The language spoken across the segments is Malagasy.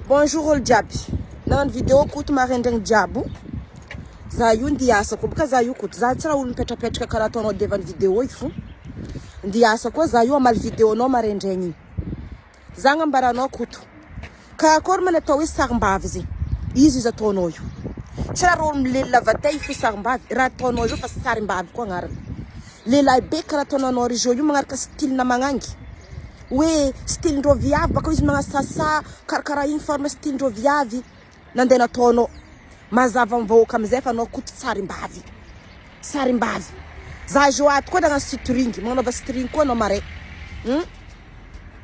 Bonjour olo jiaby. Nagnano video koto maraindraigny jiaby o. Za io ndia hiasa koa boka za io koto. Za tsy raha olo mipetrapetraka karaha ataonao Deva ny video io fo. Ndia hiasa koa za io hamaly video nao maraindraigny igny. Za agnambara anao koto. Ka akôry ma ny atao hoe sarimbavy zegny. Iza izy ataonao io. Tsy raha rôle milelona vatay fo sarimbavy. Raha ataonao io fa sarimbavy koa agnarany. Lehilahy be karaha ataonao anao Rizo io magnaraka style-na magnangy. Hoe style ndreo viavy bakao izy manasasa karakara iny forme style ndreo viavy nande nataonao mazava am vahoaka amizay fa anao koto tsarimbavy sarimbavy za zao ato koa nagnano sitring magnanaova string koa anao marais hum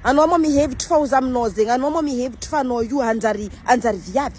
anao moa mihevitry fa oza aminao zegny anao moa mihevitry fa anao io hanjary hanjary viavy.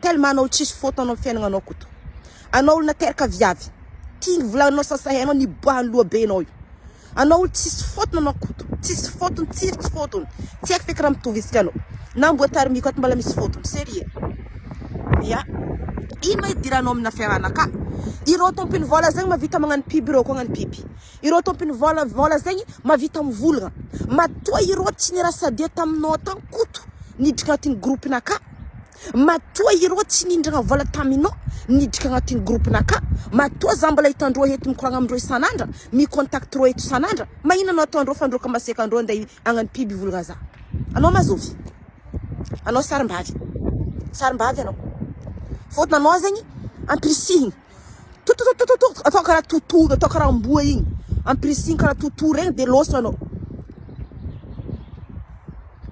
Tellement anao tsisy faute anao fiainagnanao koto. Anao olo nateraka viavy. Ty volagnanao sasa hainao niboahan'ny lohabenao io. Anao olo tsisy faute anao koto. Tsisy faute-ny tsiry tsy faute-ny. Tsy haiko feky raha mitovy isika anao. Na amboa tarimiko ato mbola misy faute-ny. Serieux. Ya. Ino ma idiranao amina fiarahana ka. Ireo tompony vola zegny mavita magnano pub ireo koa agnano pub. Ireo tompiny vola vola zegny mavita mivolagna matoa ireo tsy nira sadia taminao tany koto niditra agnatin'ny groupe naka matoa ireo tsy nindragna vola taminao niditra agnatin'ny groupe naka matoa za mbola hitandreo eto mikoragna amindreo isan'andra mi contact reo eto isan'andra magnina no ataondreo fa ndreo ka masiaka andreo ande agnano pub hivolagna za anao ma zovy anao sarimbavy sarimbavy anao fôtony anao zegny ampirisihigny. Totototototo atao karaha toto atao karaha amboa igny ampirisihigny karaha toto regny de loso anao.